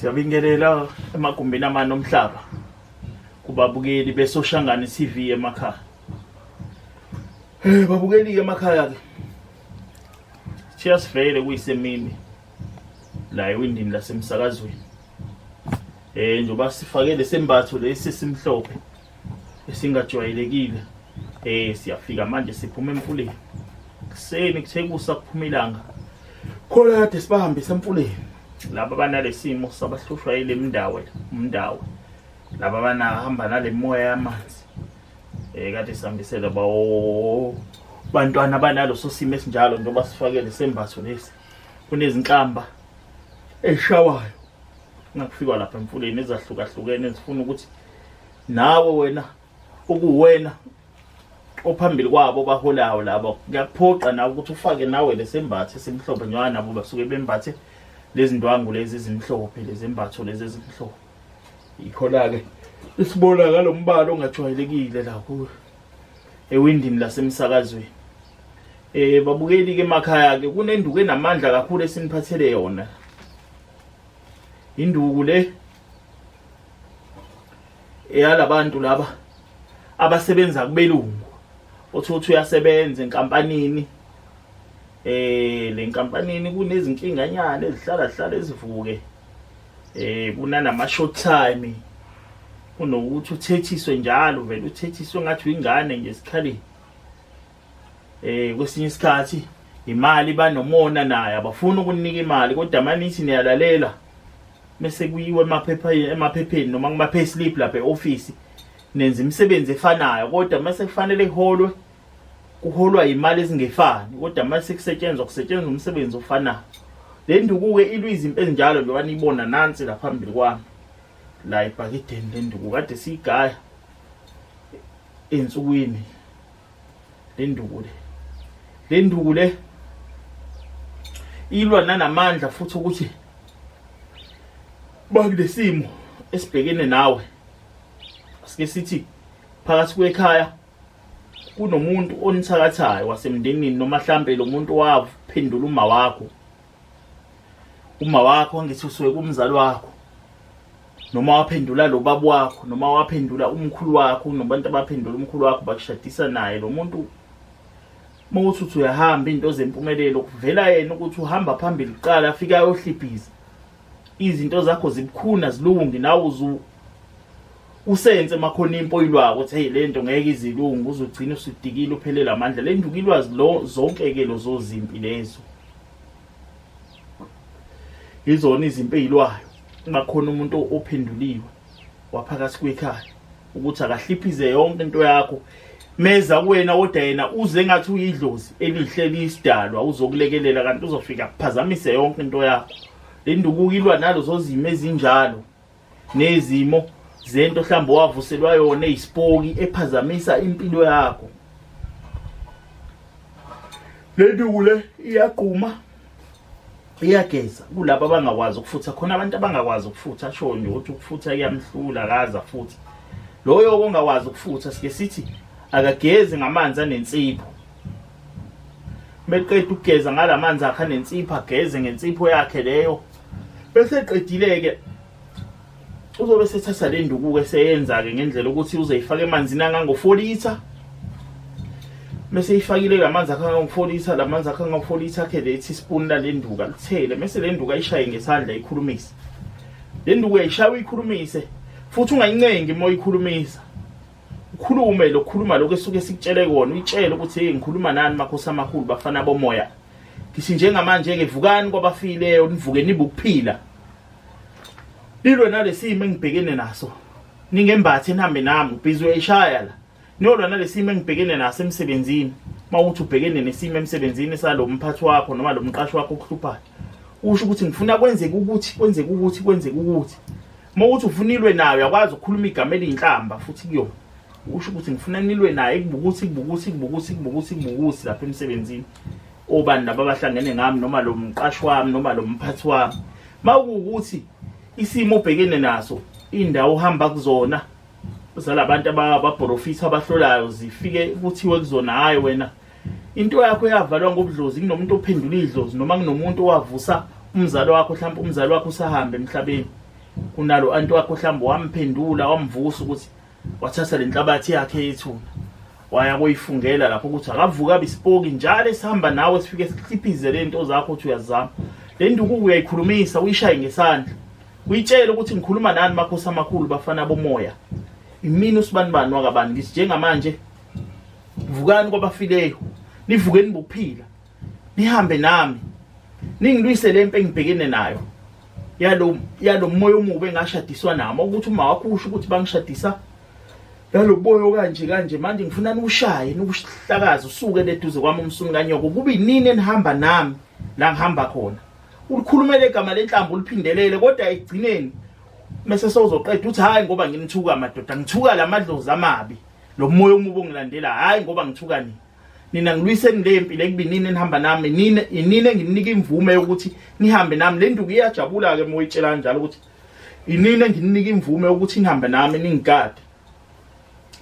Siyabingelela emagumbini amane omhlaba kubabukeli besoshangane TV emakhaya. Eh babukeli ke emakhaya ke. Cheers vele kuyisemini la ewindini lasemsakazweni. Eh njoba sifake lesembatho lesi simhlophe esingajwayelekile. Eh siyafika manje siphuma emfuleni. Kuseni kuthekusa kuphuma ilanga. Khona kade sibahambisa emfuleni. Laba banalesimo sabahlushwa ile mndawe, umndawe. Laba banahamba nalemoya yamanzi. Eh kade sihambisela bawo bantwana banalo sosimo esinjalo njengoba sifakele sembatho lesi. Kunezinhlamba eshawayo ngakufikwa lapha emfuleni ezahlukahlukene ezifuna ukuthi nawe wena ukuwena ophambili kwabo baholayo labo kuyakuphoqa nawe ukuthi ufake nawe lesembathe simhlophe njengoba nabo basuke bembathe lezindwangu lezi ezimhlophe lezembatho lezi ezimhlophe yikho-la-ke isibona ngalo mbala ongajwayelekile la kuwe ewindini lasemsakazweni Eh babukeli ke emakhaya ke kunenduku enamandla kakhulu esiniphathele yona. Induku le eyalabantu laba abasebenza kubelungu othi uthi uyasebenza enkampanini eh lenkampanini kunezinkinga nyana ezihlala hlala ezivuke eh kunanama short time kunokuthi uthethiswe njalo vele uthethiswe ngathi uyingane nje esikhaleni eh kwesinye isikhathi imali banomona naye abafuni ukunika imali kodwa manithi niyalalela bese kuyiwe emaphepha emaphepheni noma kuma pay slip lapha eoffice nenza imisebenzi efanayo kodwa mase kufanele iholwe kuholwa imali ezingefani kodwa mase kusetshenzwa kusetshenzwa umsebenzi ofanayo le ndukuke ilwa izimpi ezinjalo njengoba niyibona nansi la phambili kwami la ibhakideni le nduku kade siyigaya ensukwini lenduku le lenduku le ilwa nanamandla futhi ukuthi bakulesimo esibhekene nawe sike sithi phakathi kwekhaya kunomuntu onithakathayo wasemndenini noma mhlambe lo muntu waphendula uma wakho uma wakho angithi usuke kumzali wakho noma waphendula lo baba wakho noma waphendula umkhulu wakho kunobantu abaphendula umkhulu wakho bakushadisa naye lo muntu uma uthi uthi uyahamba into zempumelelo kuvela yena ukuthi uhamba phambili kuqala afike ayohlibhiza izinto zakho zibukhuna zilungi nawe usense makhona impo ilwako ukuthi hey lento ngeke izilungu uzogcina usudikile uphelele amandla lenduka ilwazi lo zonke ke lo zozimpi lezo izona izimpi ezilwayo bakhona umuntu ophenduliwe waphakathi kwekhaya ukuthi akahliphize yonke into yakho meza kuwena kodwa yena uze ngathi uyidlozi elihle lisidalwa uzokulekelela kanti uzofika kuphazamise yonke into yakho lendukuka ilwa nalo zozimo ezinjalo nezimo zento mhlawumbe wavuselwa yona eyisipoki ephazamisa impilo yakho le nduku le iyagquma iyageza kulabo abangakwazi ukufutha khona abantu abangakwazi ukufutha asho nje ukuthi ukufutha kuyamhlula akaza futhi loyo ongakwazi ukufutha sike sithi akagezi ngamanzi anensipho meqeda ukugeza ngalamanzi akhe anensipho ageze ngensipho yakhe leyo bese eqedile ke uzobe sethatha le nduku ke seyenza ke ngendlela ukuthi uzeyifaka emanzini angango 4 liter mese ifakile lamanzi akhe angango 4 liter lamanzi akhe angango 4 liter ke lethi spoon la lenduka lithele mese lenduka ishaye ngesandla ikhulumise lenduku uyayishaya uyikhulumise futhi ungayincengi uma uyikhulumisa ukhulume lokhuluma lokho esuke sikutshele kona uyitshele ukuthi hey ngikhuluma nani makhosi amakhulu bafana bomoya ngithi njengamanje ke vukani kwabafileyo nivuke nibe ukuphila lilwe nalesimo engibhekene naso ningembathi nihambe nami ubhizi uyayishaya la niyolwa nalesimo engibhekene naso emsebenzini mawuthi ubhekene nesimo emsebenzini salo mphathi wakho noma lo mqashi wakho okuhluphayo usho ukuthi ngifuna kwenzeke ukuthi kwenzeke ukuthi kwenzeke ukuthi uma ukuthi ufuna ilwe nayo uyakwazi ukukhuluma igama eliyinhlamba futhi kuyona usho ukuthi ngifuna nilwe naye ikubukusi ikubukusi ikubukusi ikubukusi ikubukusi lapha emsebenzini obani laba abahlangene ngami noma lo mqashi wami noma lo mphathi wami uma kuwukuthi isimo obhekene naso indawo uhamba kuzona zalabantu ababhorofisa abahlolayo zifike kuthiwe kuzona hhayi wena into yakho yavalwa ngobudlozi kunomuntu ophendula idlozi noma kunomuntu owavusa umzali wakho mhlawumbe umzali wakho usahambe emhlabeni kunalo anti wakho mhlawumbe wamphendula wamvusa ukuthi wathatha lenhlabathi yakhe yethuna waya koyifungela lapho ukuthi akavuka abisipoki njalo esihamba nawe sifike sikhiphize lento zakho uthi uyazama le ndukuku uyayikhulumisa uyishaye ngesandla uyitshele ukuthi ngikhuluma nani makhosi amakhulu bafana bomoya imini usibanibani wakabani ngithi njengamanje vukani kwabafileyo nivukeni bokuphila nihambe nami ningilwise le mpe engibhekene nayo yalo yalo moya omubi engashadiswa nami ukuthi uma wakho usho ukuthi bangishadisa yalo boyo kanje kanje manje ngifuna niwushaye niwuhlakaze usuke leduze kwami umsunu kanyoko kube inini enihamba nami la ngihamba khona ulikhulumele igama lenhlambo uliphindelele kodwa egcineni mese sozoqeda uthi hayi ngoba nginithuka madoda ngithuka lamadlozi amabi lo moya omubi ongilandela hayi ngoba ngithuka nini nina ngilwiseni le mpilo ekubinini enihamba nami nina inini engininika imvume yokuthi nihambe nami le nduku iyajabula-ke uma uyitshela kanjalo ukuthi inini engininika imvume yokuthi nihambe nami ningigade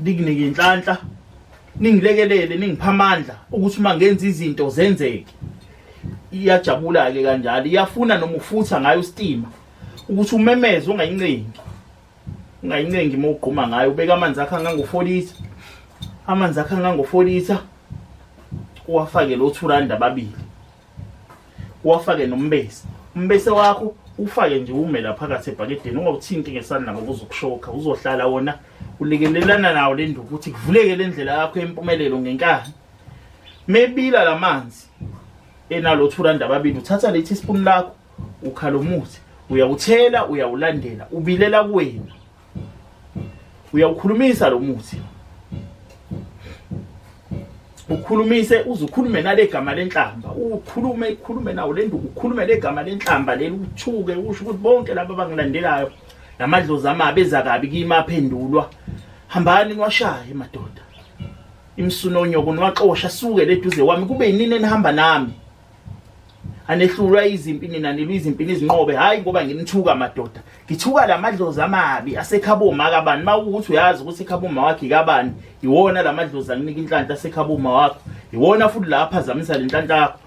nikunike inhlanhla ningilekelele ningipha amandla ukuthi uma ngenza izinto zenzeke iyajabula-ke kanjalo iyafuna noma ufutha ngayo isitima ukuthi umemeze ungayincengi ungayincengi uma ugquma ngayo ubeka amanzi akho angangofolisa amanzi akho angangofolisa uwafake lo thuranda ababili uwafake nombese umbese wakho ufake nje ume la phakathi ebhakedeni ungawuthinti ngesandla ngoba uzokushoka uzohlala wona ulekelelana nawo le nduku ukuthi kuvuleke le ndlela yakho yempumelelo ngenkani mebila la manzi enalo thuranda ababili uthatha le teaspoon lakho ukhala umuthi uyawuthela uyawulandela ubilela kuwena uyawukhulumisa lo muthi ukhulumise uze ukhulume nale gama lenhlamba ukhulume ikhulume nawo le nduku ukhulume le gama lenhlamba leli uthuke usho ukuthi bonke laba abangilandelayo namadlozi amabi eza kabi kimi aphendulwa hambani niwashaye madoda imsunonyoko niwaxosha suke leduze wami kube yinini enihamba nami anehlulwa izimpi nina nilwa izimpi nizinqobe hayi ngoba nginithuka madoda ngithuka lamadlozi amabi asekhaboma kabani mawukuthi uyazi ukuthi ekhaboma wakhe kabani iwona lamadlozi anginika inhlanhla asekhaboma wakho iwona futhi lapha zamisa lenhlanhla yakho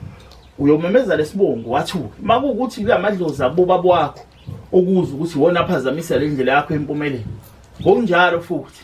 uyomemeza lesibongo wathuka makukuthi lamadlozi aboba bwakho okuza ukuthi iwona aphazamisa lendlela yakho empumelelo ngokunjalo futhi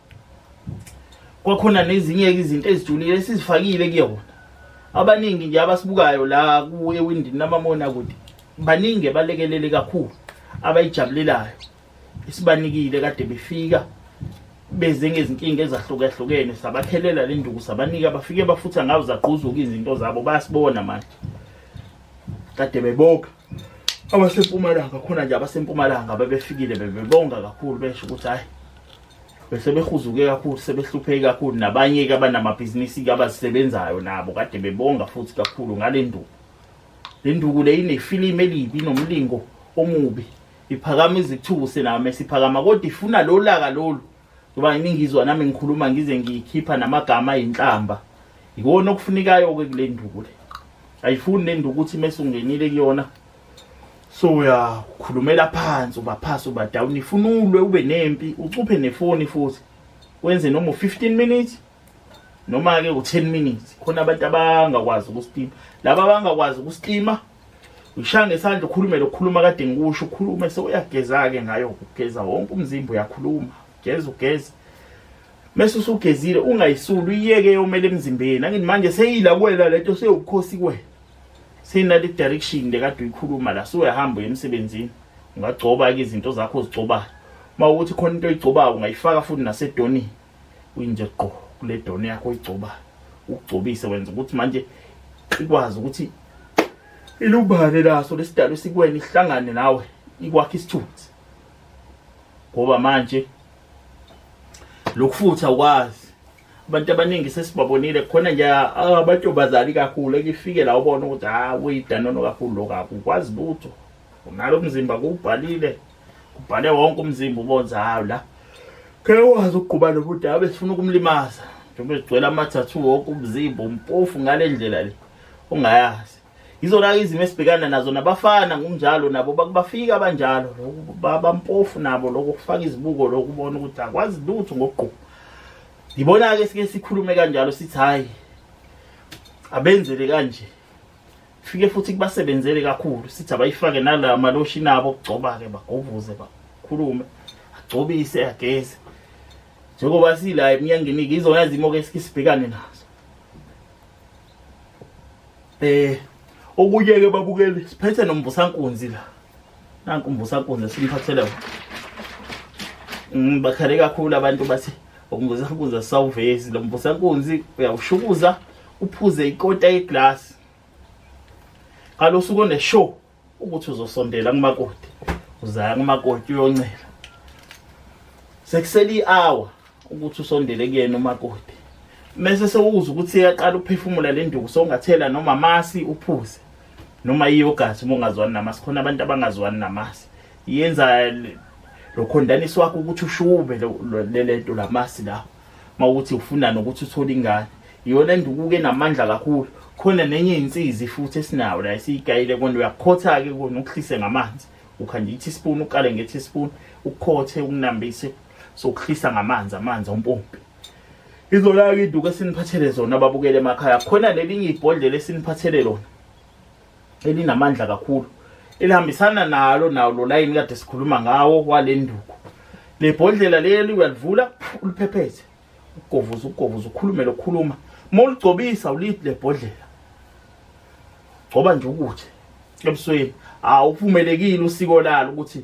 kwakhona nezinye izinto ezijulile esizifakile kuyona abaningi nje abasibukayo la ku ewindini namamona kude baningi balekelele kakhulu abayijabulelayo isibanikile kade befika beze ngezinkinga ezahlukahlukene sabakhelela le nduku sabanika bafike bafutha ngawo zagquzuka izinto zabo bayasibona manje kade beboka abasempumalanga khona nje abasempumalanga bebefikile bebebonga kakhulu besho ukuthi hayi bese behuzuke kakhulu sebehlupheke kakhulu nabanye-ke abanamabhizinisi-ke abazisebenzayo nabo kade bebonga futhi kakhulu ngale nduku le nduku le inefilimu elibi inomlingo omubi iphakama izithuse nayo mesiphakama kodwa ifuna lo laka lolu ngoba ningizwa nami ngikhuluma ngize ngiyikhipha namagama ayinhlamba ikona okufunekayo-ke kule nduku le ayifuni le nduku ukuthi mesungenile kuyona so uyakhulumela phansi uba phasi uba down ifuna ulwe ube nempi ucuphe nefoni futhi wenze noma u-15 minutes noma-ke u-10 minutes khona abantu abangakwazi ukusitima laba abangakwazi ukusitima ushaya ngesandla ukhulumele ukukhuluma kade ngikusho ukhulume sewuyageza-ke ngayo ugeza wonke umzimba uyakhuluma geza ugeza mese usugezile ungayisuli uyiyeke yomele emzimbeni angithi manje seyila kwela lento seyobukhosi kwena sinale direction le kade uyikhuluma la siwehamba emsebenzini ungagcoba ke izinto zakho ozigcobayo uma ukuthi khona into oyigcobayo ungayifaka futhi nasedonini uyinje gqo kule doni yakho oyigcobayo ukugcobise wenza ukuthi manje ikwazi ukuthi ilubane laso lesidalo sikwena ihlangane nawe ikwakhe isithunzi ngoba manje lokufutha ukwazi abantu abaningi sesibabonile khona nje abantu bazali kakhulu ekifike la ubona ukuthi ha uyidanono kakhulu lokho akukwazi lutho unalo mzimba kubhalile kubhale wonke umzimba ubonza hawu la ke wazi ukuqhuba lo buda abe sifuna ukumlimaza njengoba sigcwele amathathu wonke umzimba umpofu ngale ndlela le ungayazi Yizona izimo esibhekana nazo nabafana ngokunjalo nabo bakubafika abanjalo lokhu babampofu nabo lokho kufaka izibuko lokubona ukuthi akwazi lutho ngokugqoka. Yibona ke sike sikhulume kanjalo sithi hayi abenzele kanje. Fike futhi kubasebenzele kakhulu sithi abayifake nala maloshi nabo kugcoba ke bagovuze bakhulume agcobise ageze. Njengoba sila emnyangeni izona izimo ke sike sibhekane nazo. Eh okunye ke babukeli siphethe nomvusankunzi la. Nanku umvusankunzi simphathele. Mm bakhale kakhulu abantu bathi umvusankunzi asawuvezi lo mvusankunzi uyawushukuza uphuze ikota yeglass. Kalosuku ne show ukuthi uzosondela kumakoti uzaya kumakoti uyoncela sekuseli hour ukuthi usondele kuyena umakoti mese sewuza ukuthi yaqala ukuphefumula le nduku sowungathela noma masi uphuze noma iyogathi uma ungazwani namasi khona abantu abangazwani namasi yenza lokhondanisi wakho ukuthi ushube lento lamasi lawo mawuthi ufuna nokuthi uthole ingane iyona ndukuke enamandla kakhulu khona nenye insizi futhi esinayo la esiyigayile kona uyakhotha ke kona ukuhlise ngamanzi ukhanda i-teaspoon uqale nge-teaspoon ukhothe ukunambise sokuhlisa ngamanzi amanzi ompompi izona-ke induku esiniphathele zona ababukele emakhaya khona nelinye ibhodlela esiniphathele lona elinamandla kakhulu elihambisana nalo nawo lo layini kade sikhuluma ngawo wale nduku le bhodlela leli uyalivula uliphepheze ugovuza ugovuza ukhulume lokhuluma uma uligcobisa ulithi le bhodlela gcoba nje ukuthi ebusweni awuphumelekile usiko lalo ukuthi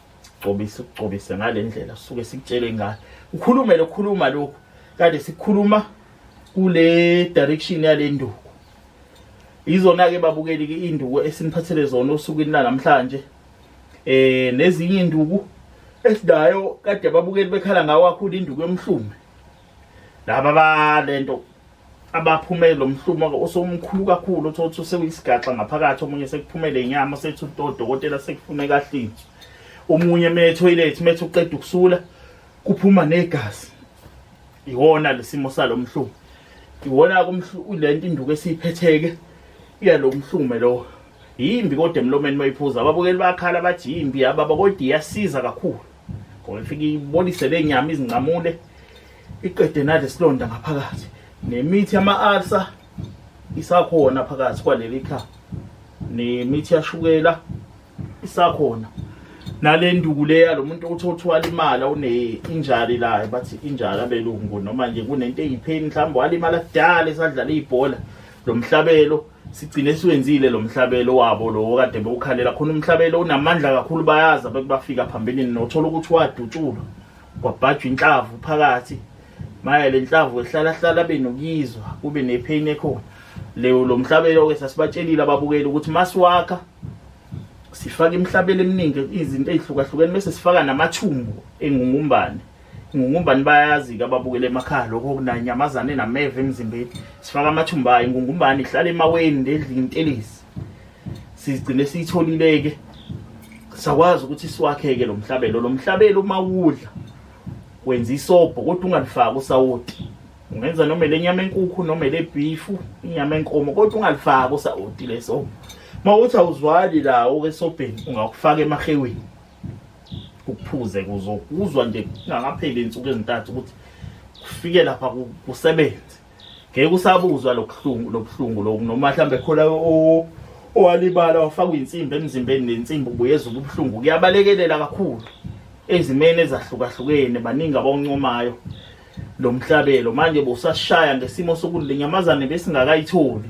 gcobise ukugcobise ngale ndlela suke sikutshele ingane ukhulume lokhuluma lokhu kade sikhuluma kule direction yale nduku izona-ke babukeli ke induku esiniphathele zona osukwini lanamhlanje eh nezinye induku esidayo kade babukeli bekhala ngawo akhulu induku yomhlume laba balento abaphumele lo mhlumo osomkhulu kakhulu othola ukuthi usewuyisigaxa ngaphakathi omunye sekuphumele inyama sethi udokotela sekufuneka ahlinzwe omunye uma ethoyilethi uma ethi uqeda ukusula kuphuma negazi iwona lesimo salo mhlumo iwona le nto induku esiyiphetheke iyalo mhlume lowo yimbi kodwa emlomeni uma iphuza ababukeli bakhala bathi yimbi yababa kodwa iyasiza kakhulu ngoba ifike ibonise le nyama izincamule iqede nale silonda ngaphakathi nemithi yama-alsa isakhona phakathi kwaleli kha nemithi yashukela isakhona nale nduku le yalo muntu othi othwala imali awune-injari layo bathi injari abelungu noma nje kunento eyipheni mhlawumbe walimala kudala esadlala ibhola lo mhlabelo sigcine siwenzile lo mhlabelo wabo lowo kade bewukhalela khona umhlabelo unamandla kakhulu bayazi abantu bafika phambilini nothola ukuthi wadutshulwa kwabhajwa inhlavu phakathi maya le nhlavu ehlala hlala benokuyizwa kube nepheyini ekhona leyo lo mhlabelo-ke sasibatshelile ababukeli ukuthi masiwakha sifaka imihlabelo eminingi izinto ey'hlukahlukene bese sifaka namathumbu engungumbane ingungumbane bayazi-ke ababukela emakhaya lokho okunanyamazane nameva emzimbeni sifaka amathumba ayo ingungumbane ihlala emaweni ndedlini intelezi sizigcine siyitholile-ke sakwazi ukuthi siwakheke lo mhlabelo lo mhlabelo uma wudla wenza isobho kodwa ungalifaki usawoti ungenza noma le nyama enkukhu noma le bhifu inyama enkomo kodwa ungalifaki usawoti leso uma uthi awuzwali lawo esobheni ungakufaka emaheweni ukuphuze kuzokuzwa nje kungakapheli insuku ezintathu ukuthi kufike lapha kusebenze ngeke usabuzwa lobuhlungu lobuhlungu loku noma mhlambe khona owalibala wafakwa insimbi emzimbeni nensimbi ubuyeza ubuhlungu kuyabalekelela kakhulu ezimeni ezahlukahlukene baningi abawuncomayo lo mhlabelo manje bosashaya ngesimo sokulinyamazane besingakayitholi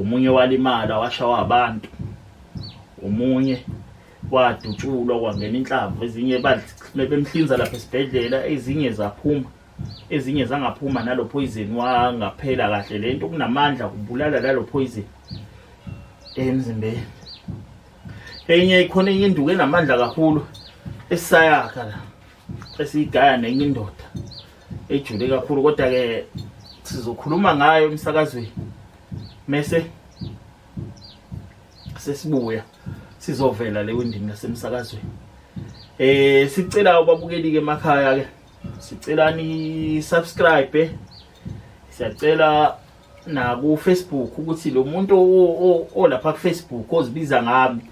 omunye walimala washawa abantu omunye wadutshulwa kwangena inhlamvu ezinye bemhlinza lapha esibhedlela ezinye zaphuma ezinye zangaphuma nalo poison wangaphela kahle le nto kunamandla kubulala lalo poison emzimbeni enye ikhona enye induku enamandla kakhulu esayakha la esiyigaya nenye indoda ejule kakhulu kodwa ke sizokhuluma ngayo emsakazweni mese sesibuya sizovela le windini nasemsakazweni eh sicela ubabukeli ke emakhaya ke sicela ni subscribe siyacela na ku Facebook ukuthi lo muntu olapha ku Facebook ozibiza ngami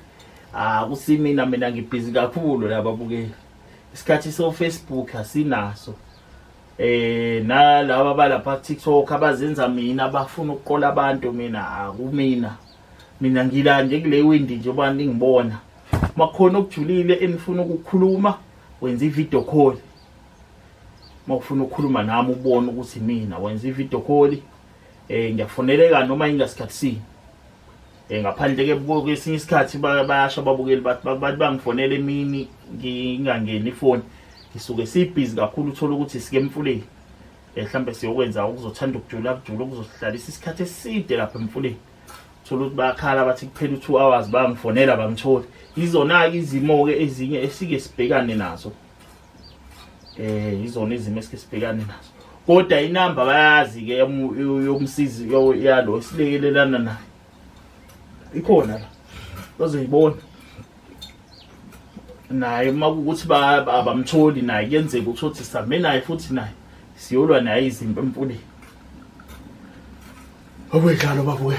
ah kusimina mina ngibhizi kakhulu laba bukeli isikhathi so Facebook asinaso eh nalaba balapha TikTok abazenza mina bafuna ukuqola abantu mina akumina mina ngila nje kule windi nje abantu ngibona makhona okujulile enifuna ukukhuluma wenza ivideo call mawufuna ukukhuluma nami ubone ukuthi mina wenza ivideo call eh ngiyafoneleka noma ingasikhathi sini Eh, ngaphandle ke kwesinye isikhathi bayasho ababukeli bathi bathi bangifonela emini ngingangeni ifoni ngisuke sibhizi kakhulu uthola ukuthi sike emfuleni eh, mhlawumbe siyokwenza okuzothanda ukujula kujula okuzohlalisa isikhathi eside lapha emfuleni thola ukuthi bayakhala bathi kuphela u-two hours bangifonela bangitholi izona-ke izimo-ke ezinye esike sibhekane nazo eh izona izimo esike sibhekane nazo kodwa inamba bayazi ke yomsizi yalo silekelelana naye ikhona la bazoyibona naye uma kukuthi abamtholi naye kuyenzeka ukuthi othi sihambe naye futhi naye siyolwa naye izimpi emfuleni obedlalo babuye